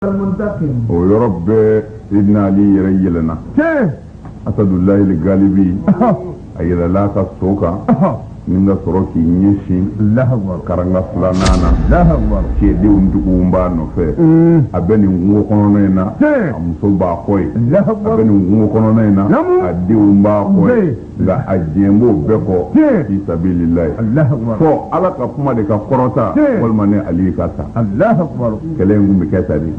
o yɔrɔ bɛɛ sidina ali yɛrɛ yɛlɛnna asadullahil galibi a yɛlɛla a ka so kan ni ka sɔrɔ k'i ɲɛsin karanga filanan na cɛdenw tun b'a nɔfɛ a bɛ nin kungo kɔnɔna in na a muso b'a kɔ yen a bɛ nin kungo kɔnɔna in na a denw b'a kɔ yen nka a jɛn b'o bɛɛ kɔ fi sabilillahi fɔ ala ka kuma de ka kɔrɔta walima ne ali ka sa kɛlɛ in tun bɛ kɛ tan de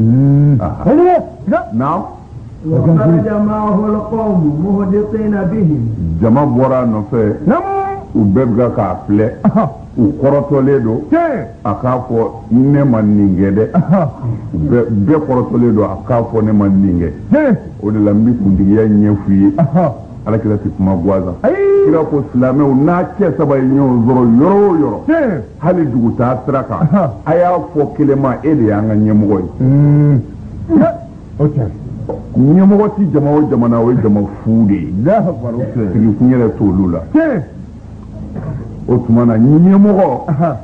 naam wa karaja maahul kawmu muhdikina bihi jama bɔra a nɔfɛ u bɛɛ bɛ k'a filɛ u kɔrɔtɔlen don a k'a fɔ ne ma nin kɛ dɛ bɛɛ kɔrɔtɔlen don a k'a fɔ ne ma nin kɛ o de la an bɛ kuntigiya ɲɛf'u ye alakira tɛ kuma gansan kira ko silamɛw n'a cɛ saba ye ɲɔgɔn sɔrɔ yɔrɔ o yɔrɔ hali dugutaa sira kan a y'a fɔ kelen ma e de y'an ka ɲɛmɔgɔ ye hmm. ɲɛmɔgɔ tɛ jama o jama na o ye jama fu de ye sigikun yɛrɛ t'olu la o tuma na ɲɛmɔgɔ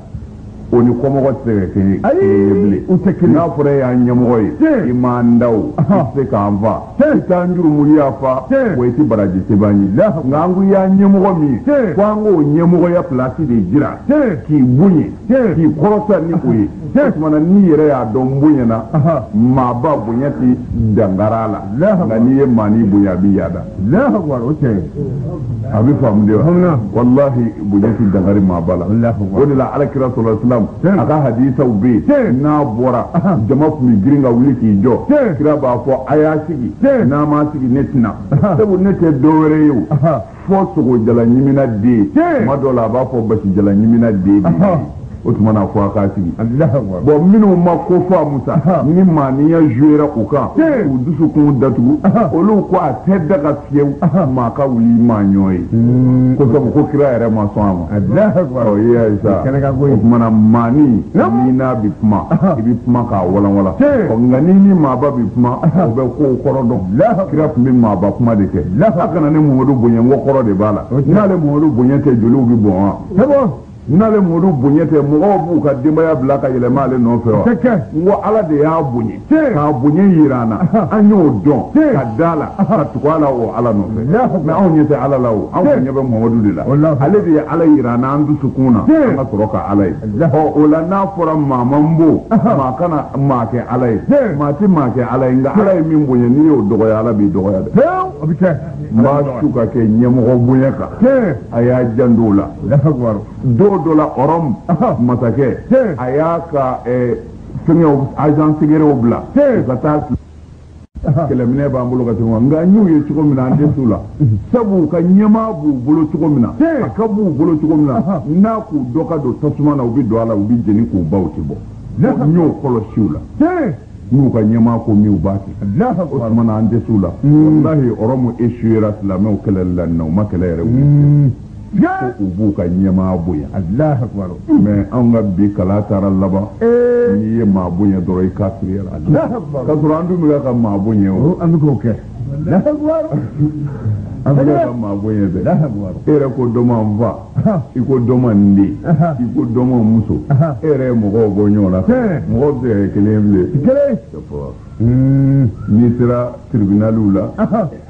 o ni kɔmɔgɔ tɛ se ka kɛ ye bilen u tɛ kelen n'a fɔra e y'an ɲɛmɔgɔ ye i m'an da o i tɛ se k'an fa i t'an jurumu yafa wa i tɛ baraji sɛbɛn an ye nka an ko i y'an ɲɛmɔgɔ min ye ko an k'o ɲɛmɔgɔya pilasi de jira k'i bonya k'i kɔrɔta ni o ye o tumana n'i yɛrɛ y'a dɔn n bonyana maaba bonya tɛ dankari a la nka n'i ye maani bonya a b'i yaada oke a bɛ faamu de wa walahi bonya tɛ dankari maaba la o de la alakira sallallahu alayhi wasallam a ka hadisaw bɛ yen n'a bɔra jama tun bɛ girin ka wuli k'i jɔ kira b'a fɔ a y'a sigi n'a m'a sigi ne tɛ na sabu ne tɛ dɔwɛrɛ ye o fɔ sogo jalan ɲimina den tuma dɔ la a b'a fɔ basi jalan ɲimina den o tuma na fɔ a k'a sigi bon minnu ma ko faamu sa ni maaniya jouera u kan u dusukun datugu olu ko a tɛ daga fiyewu maa ka wuli maa ɲɔgɔn ye hmm. ko sabu ko kira yɛrɛ ma sɔn a ma ɔ i y'a ye sa o tuma na maani n'i n'a bɛ kuma i bɛ kuma k'a walanwalan ɔ nka n'i ni maaba bɛ kuma o bɛ kow kɔrɔ dɔn lafa kira tun bɛ maaba kuma de kɛ a kana ne muhamadu bonya n ko kɔrɔ de b'a la n'ale muhamadu bonya tɛ joliw bɛ bɔn wa n'ale muhamadu bonya tɛ mɔgɔw b'u ka denbaya bila ka yɛlɛma ale nɔfɛ wa n ko ala de y'a bonya k'a bonya jira an na an y'o dɔn ka da a la ka tugu ala o ala nɔfɛ mɛ anw ɲɛ tɛ ala la o anw ɲɛ bɛ muhamadu de la ale de ye ala jira an na an dusukun na an ka sɔrɔ ka ala ye o la n'a fɔra maa man bon maa kana maa kɛ ala ye maa tɛ maa kɛ ala ye nka ala ye min bonya n'i y'o dɔgɔya ala b'i dɔgɔya dɛ o bɛ kɛ n b'a su ka kɛ ɲɛmɔgɔ bonya kan a y'a janto o la don dɔ la ɔrɔmu masakɛ a y'a ka fɛngɛw agent secrets bila ka taa kɛlɛminɛn b'an bolo ka tɛmɛ nka n y'u ye cogo min na an tɛ s'u la sabu u ka ɲɛmaa b'u bolo cogo min na a ka b'u bolo cogo min na n'a k'u dɔ ka don tasuma na u bɛ don a la u bɛ jeni k'u ban u tɛ bɔ n y'o kɔlɔsi u la n'u ka ɲɛmaa ko min u b'a kɛ o tuma na an tɛ s'u la walahi ɔrɔmu esuwera silamɛw kɛlɛli la nin na u ma kɛlɛ yɛrɛ wuli ko u b'u ka ɲɛmaa bonya mɛ anw ka bi kala taara laban n'i ye maa bonya dɔrɔn i kafiriyara ka sɔrɔ an dun bɛ ka maa bonya o an bɛ k'o kɛ an bɛ ka maa bonya dɛ e yɛrɛ ko dɔ ma n fa i ko dɔ ma n den i ko dɔ ma n muso e yɛrɛ ye mɔgɔw bɔ ɲɔgɔn na mɔgɔw tɛ kelen bilen n'i sera tiribinaliw la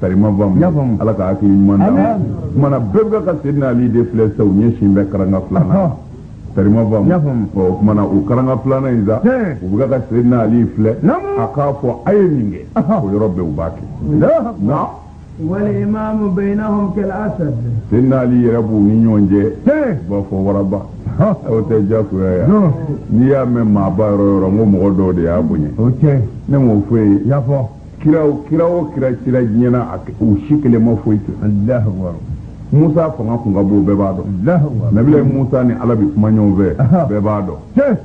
karima faamu ala ka hakili ɲuman d'a ma mana bɛɛ bɛ ka sedina ali de filɛ sa u ɲɛ sin bɛ karanga filanan karima faamu o mana o karanga filanan in sa u bɛ ka sedina ali filɛ a k'a fɔ a ye nin kɛ o yɔrɔ bɛɛ u b'a kɛ nka wal imamu bayinahum kal asad sedina ali yɛrɛ b'u ni ɲɔgɔn cɛ u b'a fɔ waraba o tɛ diyagoya ye n'i y'a mɛn maaba yɔrɔ yɔrɔ n ko mɔgɔ dɔw de y'a bonya ne m'o fɔ ye kira o kira cira diɲɛ na a u si kelen ma foyi kɛ alahu akbar musa fanga kun ka bon bɛɛ b'a dɔn alahu akbar nabila musa ni ala bi kuma ɲɔgɔn fɛ Aha. bɛɛ b'a dɔn tiɲɛ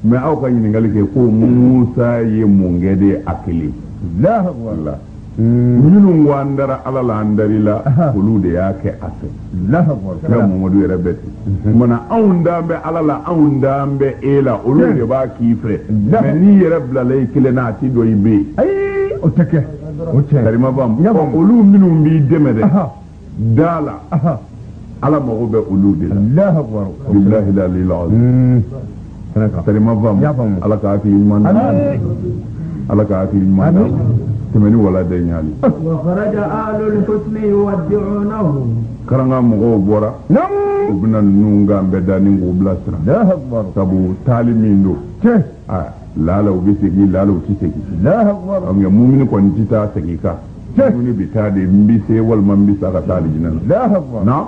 mɛ aw ka ɲininkali kɛ ko musa ye mun kɛ de a kelen alahu akbar wala minnu ko an dara ala la an dar'i la Aha. olu de y'a kɛ a fɛ kira mamadu yɛrɛ bɛ ten mana anw dan bɛ ala la anw dan bɛ e la olu de b'a k'i fɛ mɛ n'i yɛrɛ bilala i kelen na a ti dɔn i bɛ yen ayi o tɛ kɛ o cɛ karima faamu olu minnu b'i dɛmɛ dɛ da la ala mago bɛ olu de la bilahi la karima faamu ala ka hakili ɲuman d'a ma ala ka hakili ɲuman d'a ma tɛmɛni wala dɛ ɲaali karanga mɔgɔw bɔra u bɛna ninnu kan bɛɛ da ni k'u bilasira sabu taali min don laala u bɛ segin laala u tɛ segin mumini kɔni tɛ taa segin kan mumini bɛ taa de n bɛ se walima n bɛ sa ka taa alijinɛ na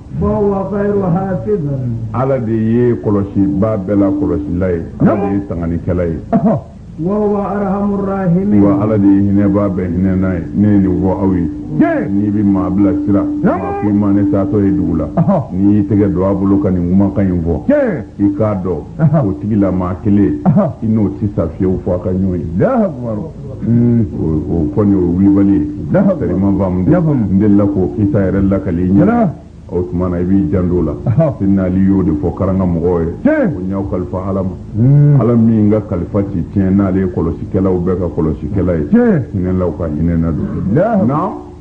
ala de ye kɔlɔsibaa bɛɛ la kɔlɔsila ye ala de ye tanganikɛla ye wa ala de ye hinɛbaa bɛɛ hinɛna ye ne ye nin fɔ aw ye n'i bɛ maa bila sira k'i ma ne taatɔ ye dugu la n'i y'i tɛgɛ don a bolo ka nin kumakan in fɔ i k'a dɔn o tigilamaa kelen i n'o tɛ sa fiyewu fo aw ka ɲɔgɔn ye Hmm, o kɔni o wulibali ye karima faamu n delila k'o kisa yɛrɛ lakali i ɲɛna o tuma na i b'i janto a la sidina ali y'o de fɔ karanga mɔgɔw ye ko n y'aw kalifa ala ma hmm. ala min ka kalifa ti tiɲɛ n'ale ye kɔlɔsikɛlaw bɛɛ ka kɔlɔsikɛla ye hinɛlaw ka hinɛna don na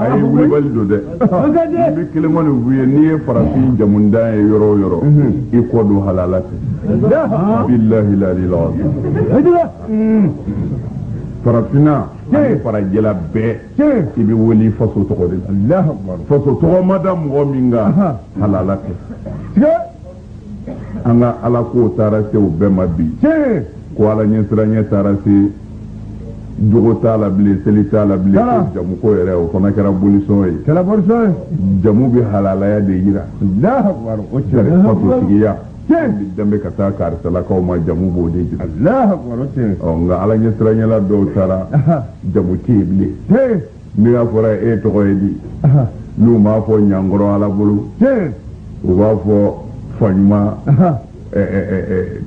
a ye wulibali don dɛ n bɛ kelen kɔni f'u ye n'i ye farafin jamundan ye yɔrɔ o yɔrɔ i k'o dɔn halala tɛ bilahi lali la farafinna ani farajɛla bɛɛ i bɛ wele faso tɔgɔ de la faso tɔgɔ ma da mɔgɔ min kan halala tɛ an ka alako taara se o bɛɛ ma bi ko ala ɲɛsiranya taara se jogo t'a la bilen seli t'a la bilen ko jamu ko yɛrɛ o fana kɛra bolisɔn ye jamu bɛ halalaya de jira faso sigiya danbe ka taa karisalakaw ma jamu b'o de jira nka ala ɲɛsiranyala dɔw taara jamu tɛ yen bilen n'a fɔra e tɔgɔ ye di n'u m'a fɔ ɲankɔrɔ ala bolo u b'a fɔ faɲuma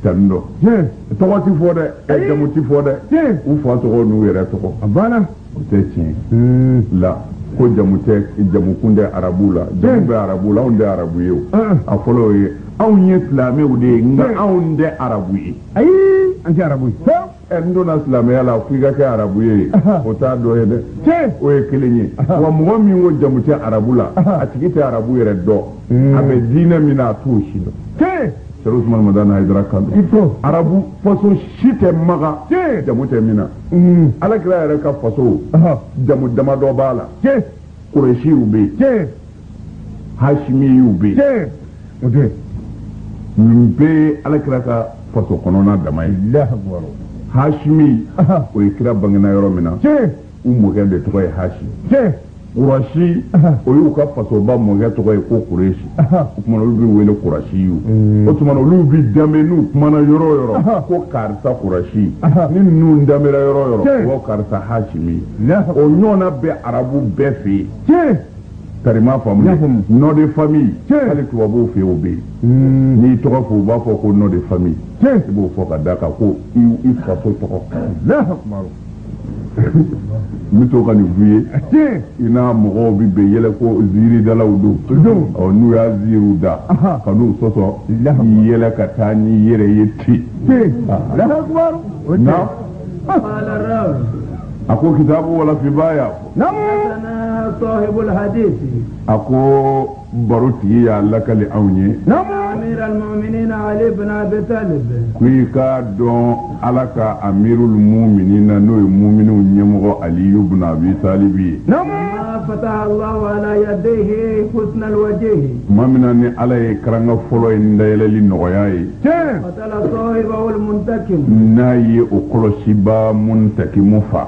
tanindɔ tɔgɔ ti fɔ dɛ jamu ti fɔ dɛ u fa tɔgɔ n'u yɛrɛ tɔgɔ a banna o tɛ tiɲɛ hmm. la ko jamu tɛ jamukun tɛ arabu la jamu bɛ arabu la anw tɛ arabu ye o a fɔlɔ o ye anw ye silamɛw de ye nka anw tɛ arabu ye ayi an tɛ arabu ye ɛ n donna silamɛya la fo i ka kɛ arabu ye o t'a dɔ ye dɛ o ye kelen ye wa mɔgɔ min ko jamu tɛ arabu la a tigi tɛ arabu yɛrɛ dɔn hmm. a bɛ diinɛ min na a t'o si dɔn sɛrifu usumani madani hayidara kan don arabu faso si tɛ maka jamu tɛ min na hmm. alakira yɛrɛ ka faso jamu damadɔ b'a la kuresiw bɛ yen tiɲɛ hasimiyiw bɛ yen tiɲɛ o tɛ nin bɛɛ ye alakira ka faso kɔnɔna dama ye hasimi o ye kira bangena yɔrɔ min na u mɔkɛ de tɔgɔ ye hasi kurasi o y'u ka fasoba mɔkɛ tɔgɔ ye ko kuresi o tuma olu bɛ wele kurasi ye mm. o tuma olu bɛ danbe n'u kumana yɔrɔ o yɔrɔ ko karisa kurasi ni ninnu danbera yɔrɔ o yɔrɔ ko karisa hasimi o ɲɔgɔnna bɛ arabu bɛɛ fɛ yen karima faamu nom de famille hali tubabuw fɛ o bɛ yen n'i tɔgɔ fɔ u b'a fɔ ko nom de famille i b'o fɔ ka d'a kan ko i faso tɔgɔ n bɛ to ka nin f'u ye i n'a mɔgɔw bɛ bɛn yɛlɛ ko ziiridalaw don ɔ n'u y'a ziiriw da kan'u sɔsɔ i yɛlɛ ka taa n'i yɛrɛ ye ten na a ko kitabu walifubaa y'a fɔ a ko barotigi y'a lakali anw ye ko i k'a dɔn ala ka amirul muminina n'o ye mumininw ɲɛmɔgɔ aliyu buna abi talibi ye tuma min na ni ala ye karanga fɔlɔ ye dayɛlɛli nɔgɔya ye n'a ye o kɔlɔsiba muntakimu fa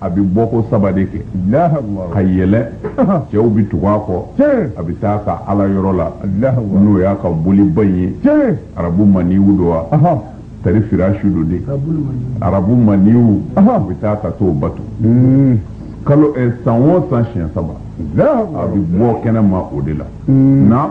a bɛ bɔ ko saba de kɛ ka yɛlɛ cɛw bɛ tugu a kɔ a bɛ taa a ka ala yɔrɔ la n'o y'a ka boliba in ye arabu maniw don wa tari fira su don de arabu maniw u bɛ taa ka t'o bato hmm. kalo eh, san o san siɲɛ saba a bɛ bɔ kɛnɛ ma o de la hmm. na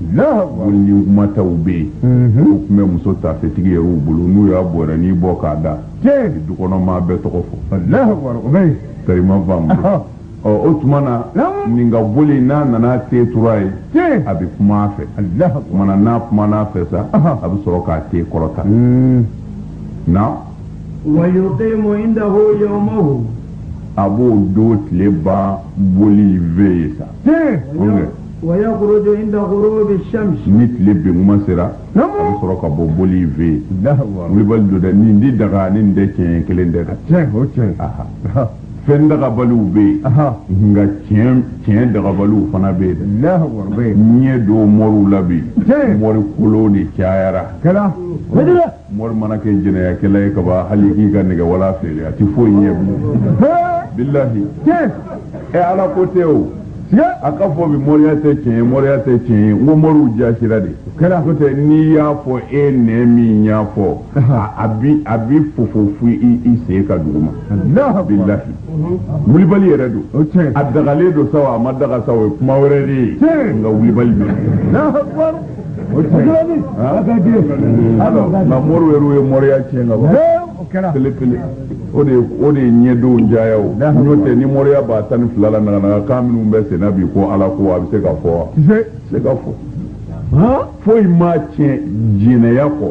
ni kumataw bɛ yen u tun bɛ muso tafetigi yɛrɛw bolo n'u y'a bɔrɛnin bɔ k'a da dukɔnɔmaa bɛɛ tɔgɔ fɔ karima faamu ɔ o tuma na nin ka boli n'a nana ten turu a ye a bɛ kuma a fɛ o tuma na n'a kumana a fɛ sa a bɛ sɔrɔ k'a ten kɔrɔta na wayuqimu indahu yawmahu a b'o don tile ban boli fɛ yen sa ni tile binkuma sera a bɛ sɔrɔ ka bɔ boli in fɛ yen wulibali don dɛ nin tɛ daga ni nin tɛ tiɲɛ kelen tɛ dɛ fɛn dagabaliw bɛ yen nka tiɲɛ dagabaliw fana bɛ yen dɛ ɲɛ don mɔriw la bi mɔri kolow de cayara mori mana kɛ jɛnɛyakɛla ye ka ban hali k'i ka nɛgɛwala feere a tɛ foyi ɲɛ bilahi ɛ ala ko tɛ o a ka fɔ bi moriya tɛ tiɲɛ ye moriya tɛ tiɲɛ ye n ko moriw jasira de n'o tɛ n'i y'a fɔ e nɛn min y'a fɔ a bi a bi fofo fo i sen ka dugu ma bilahi wulibali yɛrɛ don a dagalen don sa a ma daga sa o ye kuma wɛrɛ de ye nka wulibali bɛ nka moriw yɛrɛ ye mɔriya tiɲɛ ka ban pelepele o de o de ye ɲɛdenw jaya o n'o tɛ ni mɔriya b'a tan ni fila la naganaga kan minnu bɛ senna bi ko ala ko a bɛ se ka fɔ wa se ka fɔ foyi m'a tiɲɛ jɛnɛya kɔ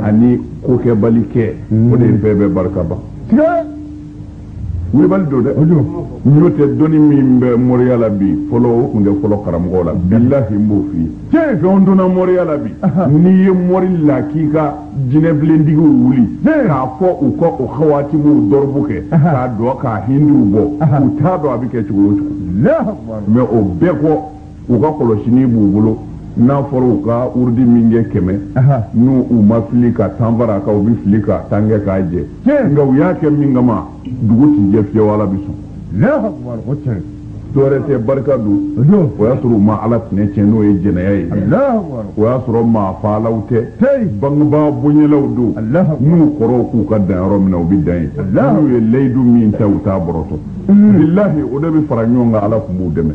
ani kokɛbali kɛ o de ye fɛn bɛɛ barika ban wulibali don dɛ n'o tɛ dɔnni min bɛ moriya la bi fɔlɔ o tun tɛ fɔlɔ karamɔgɔ la bilahi n b'o f'i ye fɛnw donna moriya la bi n'i ye mori lakika jinɛbilentigiw wuli k'a fɔ u ka o hawatimuw dɔrɔbu kɛ k'a dɔ k'a hindiw bɔ u t'a dɔn a bɛ kɛ cogo o cogo mais o bɛɛ kɔ u ka kɔlɔsini b'u bolo n'a fɔra u ka wurudi min kɛ kɛmɛ n'u u ma fili ka tan far'a kan u bɛ fili ka tan kɛ k'a jɛ nka u y'a kɛ min kama dugu ti jɛ fiyewu ala bɛ sɔn dɔwɛrɛ tɛ barika don o y'a sɔrɔ u ma ala tɛnɛ tiɲɛ n'o ye jɛnɛya ye o y'a sɔrɔ maa faalaw tɛ bangebaa bonyɛlaw don n'u kɔrɔw k'u ka dan yɔrɔ min na u bɛ dan yen n'u ye layidu min ta u t'a bɔrɔtɔ bilahi o de bɛ fara ɲɔgɔn kan ala tun b'u dɛmɛ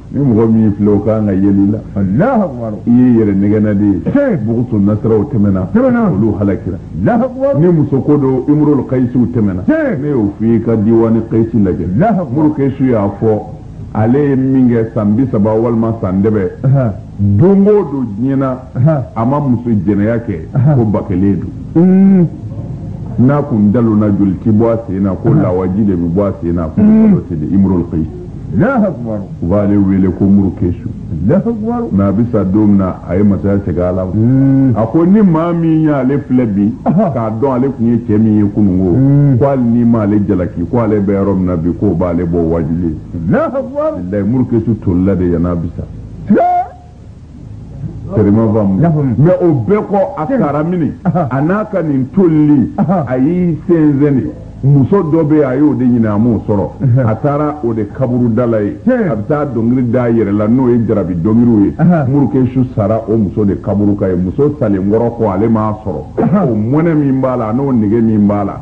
ni mɔgɔ min filɛ o ka kan ka yeli la Alahu akibaru i ye yɛrɛ nɛgɛnna de ye tiɲɛ bugusu nasiraw tɛmɛna tɛmɛna olu halakira Alahu akibaru ni muso ko don imurul kayisiw tɛmɛna tiɲɛ ne y'o f'i ye ka diwani kayisi lajɛ Alahu akibaru imurul kayisi y'a fɔ ale ye min kɛ san bi saba walima san dɛbɛ don o don diɲɛ na a ma muso jɛnɛya kɛ ko ba kelen don mm. n'a kun dalonna joli ti bɔ a sen na ko lawaji de bɛ bɔ a sen na ko kalon tɛ dɛ imurul kayisi u b'ale wele ko muru kesu mais a bɛ sa don min na a ye masaya segin ala ma a ko ni maa min y'ale filɛ bi k'a dɔn ale tun ye cɛ min ye kununko ko hali n'i m'ale jalaki ko ale bɛ yɔrɔ min na bi k'o b'ale bɔ wajuli ye muru kesu tolila de yan'a bɛ sa Sɛma faamu mais o bɛɛ kɔ a taara mini a n'a ka nin tolili a y'i sɛnsɛn de muso dɔ bɛ a y'o de ɲini a m'o sɔrɔ a taara o de kaburu da la yen a bɛ taa dɔnkili da a yɛrɛ la n'o ye jarabi dɔnkiliw ye muru kesu sara o muso de kaburu kan yen muso salen kɔrɔ kɔ ale m'a sɔrɔ o mɔnɛ min b'a la n'o nege min b'a la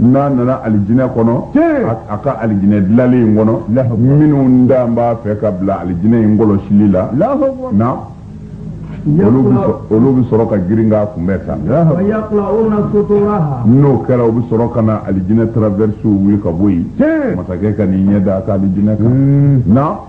n'a nana alijinɛ kɔnɔ a ka alijinɛ dilalen in kɔnɔ minnu da b'a fɛ ka bila alijinɛ in kɔlɔsili la na olu bɛ sɔrɔ ka girin k'a kunbɛn sa n'o kɛra u bɛ sɔrɔ ka na alijinɛ traversew wuli ka bɔ yen masakɛ ka n'i ɲɛ da a ka alijinɛ kan na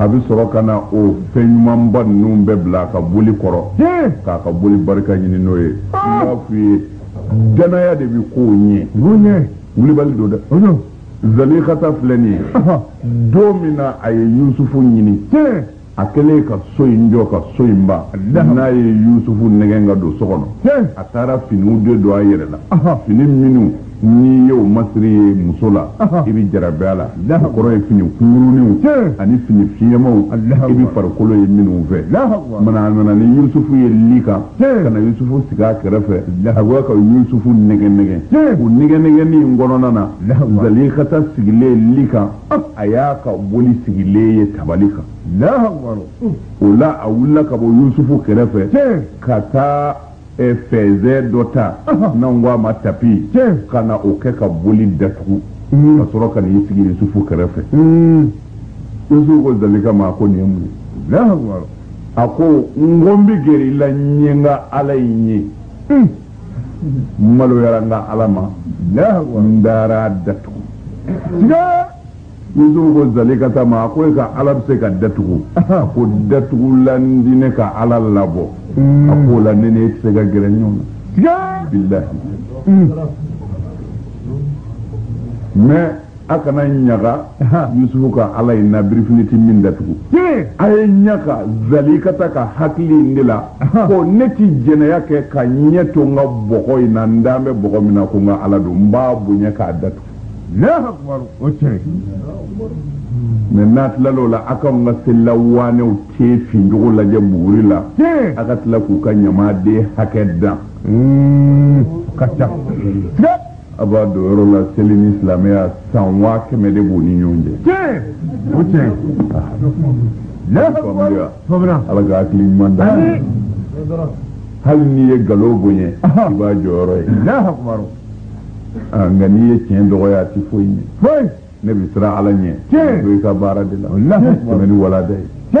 a bɛ sɔrɔ ka na o fɛn ɲumanba ninnu bɛɛ bila a ka boli kɔrɔ k'a ka boli barika ɲini n'o ye a b'a f'i ye dannaya de bɛ ko ɲɛ wulibali don dɛ zalikata filɛ nin ye don min na a ye yusufu ɲini a kɛlen ka so in jɔ ka so in ban n'a ye yusufu nɛgɛn ka don so kɔnɔ a taara finiw de don a yɛrɛ la fini minnu n'i y'o masiri ye muso la i bɛ jarabi a la o kɔrɔ ye fini kunkuruniw ani fini fiɲɛmaw i bɛ farikolo ye minnu fɛ mana a nana ni yusufu ye li kan ka na yusufu sigi a kɛrɛfɛ a bɛ ka yusufu nɛgɛn nɛgɛn o nɛgɛn nɛgɛnni in kɔnɔna na zalikata sigilen li kan a y'a ka boli sigilen ye tabali kan o la a wulila ka bɔ yusufu kɛrɛfɛ ka taa eh, fɛnsɛn dɔ ta n'an ko a ma tapi ka na o kɛ ka boli datugu hmm. ka sɔrɔ ka n'i sigi yusufu kɛrɛfɛ hmm. yusufu ko zalika ma ko nin ye mun ye a ko n ko n bɛ gɛrɛ i la n ye n ka ala in ye hmm. maloyara n ka ala ma n taar'a datugu siga yusufu ko zalikata ma a ko e ka ala bɛ se ka datugu a ko datugulan ti ne ka ala labɔ a k'o la ne n'e tɛ se ka gɛrɛ ɲɔgɔn na siga bilahi mɛ a kana ɲaga yusufu ka ala in na birifini ti min datugu a ye ɲaga zalikata ka hakili in de la ko ne ti jɛnɛya kɛ ka ɲɛ to n ka bɔgɔ in na n dalen bɛ bɔgɔ min na ko n ka ala don n b'a bonya k'a datugu mɛ n'a tilal'o la a k'an ka selila waanew ten fincogo lajɛ buguri la a ka tila k'u ka ɲamaden hakɛ dan ka ca a b'a dɔn yɔrɔ la seli ni silamɛya san waa kɛmɛ de b'u ni ɲɔgɔn cɛ. tiɲɛ o tiɲɛ. faamuya ala ka hakili ɲuman d'an ma hali n'i ye nkalon bonya i b'a jɔyɔrɔ ye. Ah, nka n'i ye tiɲɛ dɔgɔya a tɛ foyi ɲɛ. ne bɛ siran ala ɲɛ. tiɲɛ o bɛ i ka baara de la. o bɛ ni walada ye.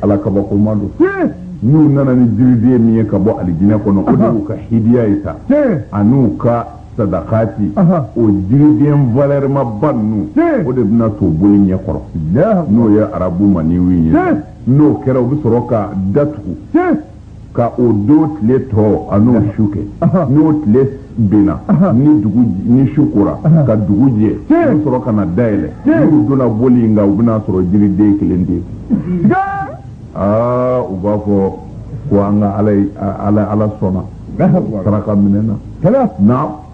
ala kabakoma don n'u nana ni jiriden min ye ka bɔ alijinɛ kɔnɔ o de y'u ka hidiya ye sa an'u ka sadakati o jiriden valɛrɛmaba ninnu o de bɛna to boli ɲɛ kɔrɔ n'o ye arabu maaniw ye n'o kɛra u bɛ sɔrɔ ka datugu ka o don tile tɔ an'o su kɛ n'o tile binna ni dugu ni su kora ka dugu jɛ u bɛ sɔrɔ ka na dayɛlɛ n'u donna boli in kan u bɛna sɔrɔ jiriden kelen de aa u b'a fɔ ko an ka ala sɔnna saraka minɛna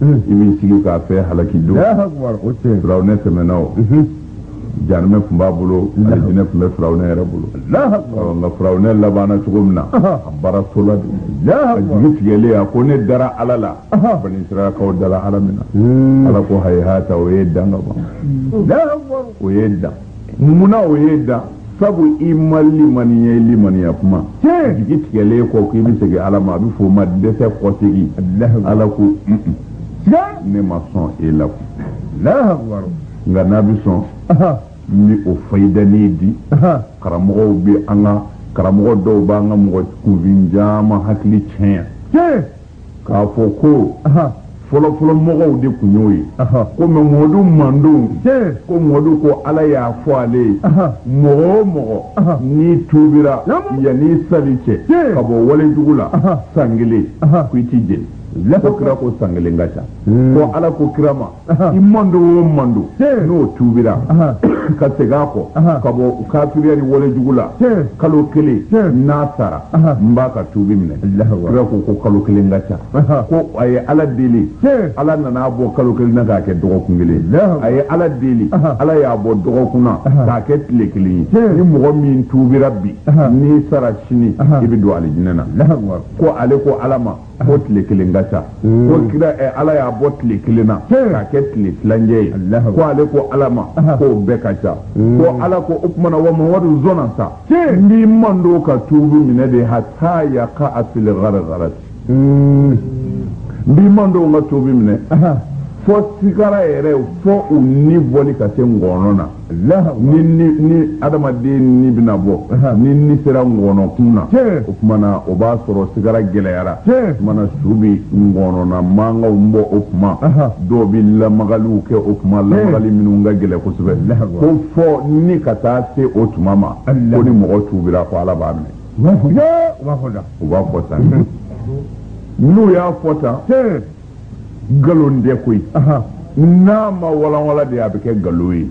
i b'i sigi k'a fɛ halaki don firawunɛ tɛmɛna o jahanama tun b'a bolo alijinɛ tun bɛ firawunɛ yɛrɛ bolo nka firawunɛ labanna cogo min na a baara tola de a jigi tigɛlen a ko ne dara ala la bani israilakaw dara ala min na ala ko hayihata o ye dan ka ban o ye dan Munna o ye dan sabu i ma limaniya i limaniya kuma jigi tigɛlen kɔ k'i bɛ segin ala ma a bɛ fɔ o ma dɛsɛ kɔsegin ala ko ne ma sɔn e la nka n'a bɛ sɔn n bɛ o fayidani di karamɔgɔw bɛ an ka karamɔgɔ dɔw b'an ka mɔgɔ kunfin caman hakili tiɲɛ k'a fɔ ko fɔlɔfɔlɔ mɔgɔw de kun y'o ye ko mɛ mɔdu mandon ko mɔdu ko ala y'a fɔ ale ye mɔgɔ o mɔgɔ n'i tubira yanni sali cɛ ka bɔ walejugu la san kelen ko i t'i jeni ko kira ko san kelen ka ca ko ala ko kira ma i mando o mando n'o tuubira ka segin a kɔ ka bɔ kafiriya ni walejugu la kalo kelen n'a sara n b'a ka tuubi minɛ kira ko ko kalo kelen ka ca ko a ye ala deli ala nana a bɔ kalo kelen na k'a kɛ dɔgɔkun kelen a ye ala deli ala y'a bɔ dɔgɔkun na k'a kɛ tile kelen ye ni mɔgɔ min tuubira bi n'i sara sini i bɛ don alijinɛ na ko ale ko ala ma ko tile kelen ka ca ko kira eh, ala y'a bɔ tile kelen na k'a kɛ tile tilancɛ ye ko ale ko ala ma k'o bɛɛ ka ca ko ala ko o tuma na wa mamadu zɔnna sa n b'i mandon ka tuubi minɛ de hata yaka fil garagarati n b'i mandon ka tuubi minɛ fo sigara yɛrɛ fo u ni bɔli ka se ngɔɔnɔ na ni adamaden ni bɛna bɔ ni ni sera ŋɔnɔ kun na o kuma na o b'a sɔrɔ sigara gɛlɛyara o kuma na su bɛ ŋɔnɔna mankanw bɔ o kuma dɔw bɛ lamagaliw kɛ o kuma lamagali minnu ka gɛlɛn kosɛbɛ ko fo ni ka taa se o tuma ma ko ni mɔgɔ tuubira ko ala b'a minɛ u b'a fɔ tan n'u y'a fɔ tan nkalon tɛ koyi n'a ma walanwala de a bɛ kɛ nkalon ye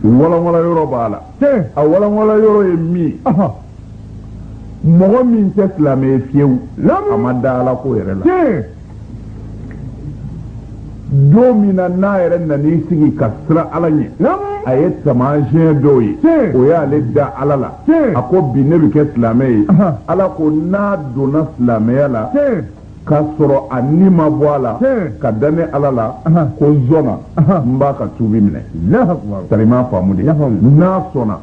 walanwala yɔrɔ b'a la a walanwala yɔrɔ ye min mɔgɔ min tɛ silamɛ ye fiyewu a ma da ala ko yɛrɛ la don min na n'a yɛrɛ nan'i sigi ka siran ala ɲɛ a ye taamasiyɛn dɔw ye o y'ale da ala la a ko bi ne bɛ kɛ silamɛ ye ala ko n'a donna silamɛya la ka sɔrɔ a ni ma bɔ a la ka da ne ala la ko zɔnna n b'a ka tuubi minɛ sari m'a faamu de n'a sɔnna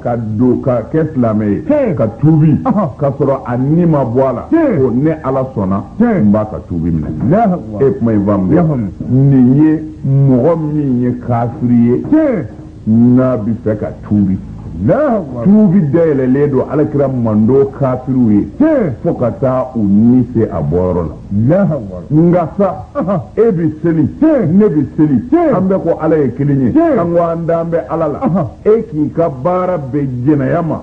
ka don ka kɛ silamɛ ye ka tuubi ka sɔrɔ a ni ma bɔ a la ko ne ala sɔnna n b'a ka tuubi minɛ e kuma in faamu nin ye mɔgɔ min ye kafiri ye n'a bɛ fɛ ka tuubi tuubi dayɛlɛlen don ala kira mando kafiriw ye fo ka taa u ni se a bɔyɔrɔ la nka sa e bɛ seli ne bɛ seli an bɛɛ ko ala ye kelen ye an ko an dalen bɛ ala la e k'i ka baara bɛn jɛnɛya ma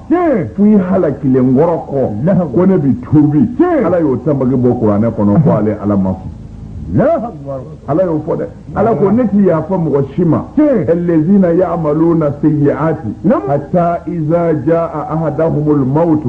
fo i halakilen kɔrɔ kɔ ko ne bɛ tuubi ala y'o tanbaki bɔ kuranɛ kɔnɔ ko ale ala ma sɔn ala y'o fɔ dɛ ala ko ne ti yafa mɔgɔ si ma allazina ya'maluna sayyi'ati hatta iza jaa ahadahumul mautu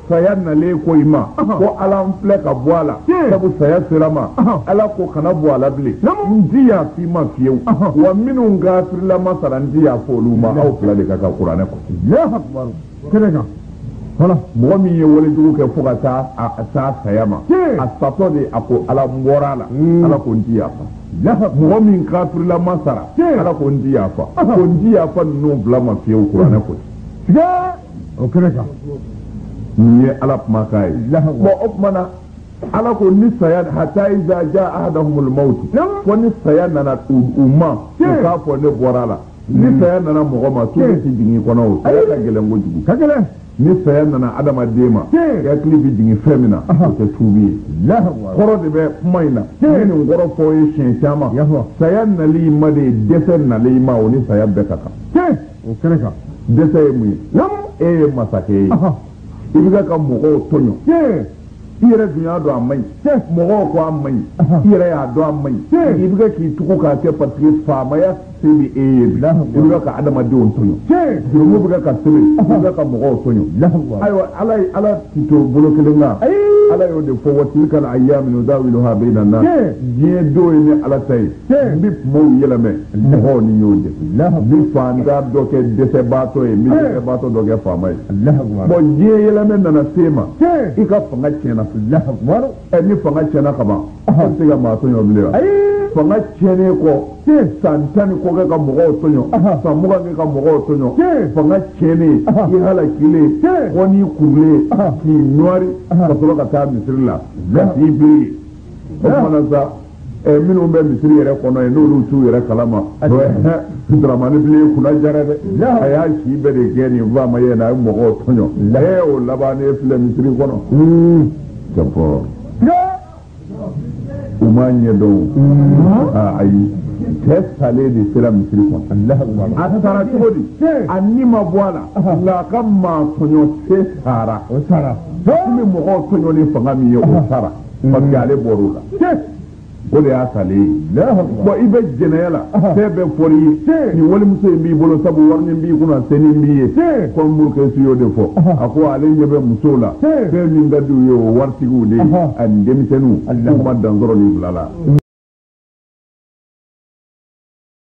saya nalen kɔ i ma ko ala n filɛ ka bɔ a la sabu saya sera ma ala ko kana bɔ a la bilen n ti yafa i ma fiyewu wa minnu kafirilama sara n ti yafa olu ma aw fila de ka kan kuranɛ k'o kɛnɛ kan voilà mɔgɔ min ye walejugu kɛ fo ka taa a taa saya ma a satɔ de a ko ala n bɔra a la hmm. ala ko n ti yafa mɔgɔ min kafirilama sara ala ko n ti yafa ko n ti yafa ninnu fila ma fiyewu kuranɛ ko o kɛnɛ kan nin ye ala kumakan ye bon o tuma na ala ko ni saya hatta iza jaa ahadahumul maut fo ni saya nana u ma u k'a fɔ ne bɔra a la ni hmm. saya nana mɔgɔ ma tuubi ti jigin i kɔnɔ o saya ka gɛlɛn kojugu ka gɛlɛn ni saya nana adamaden ma hakili bɛ jigin fɛn min na o tɛ tuubi ye kɔrɔ de bɛ kuma in na ne nin kɔrɔ fɔ ye siɲɛ caman saya nali ma de ye dɛsɛ nali ma o ni saya bɛɛ ka kan o kɛnɛ kan dɛsɛ ye mun ye e ye masakɛ ye i bɛ ka mɔgɔw tɔɲɔ i yɛrɛ dun y'a dɔn a man ɲi mɔgɔw ko a man ɲi i yɛrɛ y'a dɔn a man ɲi i bɛ k'i tugu k'a kɛ parce que faamaya se bɛ e ye bi i bɛ ka adamadenw tɔɲɔ jurumu bɛ ka sɛbɛn i bɛ ka mɔgɔw tɔɲɔ ayiwa ala ala ti to bolo kelen kan ala y'o de fɔ wa tilka al ayyamu nudawiluha bayna nas diɲɛ don ye ne ala ta ye n bɛ kumaw yɛlɛmɛ mɔgɔw ni ɲɔgɔn cɛ n bɛ faantan dɔ kɛ dɛsɛbaatɔ ye n bɛ dɛsɛbaatɔ dɔ kɛ faama ye bon diɲɛ yɛlɛmɛ nana s'e ma i ka fanga tiɲɛna ɛ ni fanga tiɲɛna ka ban a bɛ se ka maa tɔɲɔ bilen wa fanga tiɲɛnen kɔ san tan ni kɔ kɛ ka mɔgɔw tɔɲɔ san mugan kɛ ka mɔgɔw tɔɲɔ fanga tiɲɛnen i halakilen fo n'i kurulen k'i nɔri ka sɔrɔ ka taa misiri la k'i biri o kuma na sa ɛ minnu bɛ misiri yɛrɛ kɔnɔ yen n'olu t'u yɛrɛ kalama o ye hɛ Dramane Bilen kunna diyara dɛ a y'a si bɛɛ de kɛ nin faamaya in na a ye mɔgɔw tɔɲɔ ee o labannen filɛ misiri kɔnɔ jɔpɔ u m'a ɲɛdɔn aa ayi cɛ salen de sera misiri kɔnɔ a sara cogo di a ni ma bɔ a la nka a ka maa tɔɲɔ se sara o sara min mɔgɔw tɔɲɔ ni fanga min ye o sara parce que ale bɔr'o la o de y'a salen ye bon i bɛ jɛnɛya la fɛn bɛɛ fɔr'i ye nin walimuso in b'i bolo sabu wari min b'i kunna se nin b'i ye kɔmi Murukɛsi y'o de fɔ a ko ale ɲɛ bɛ musow la fɛn min ka di u ye o waritigiw de ani denmisɛnninw k'u ma dan sɔrɔ nin fila la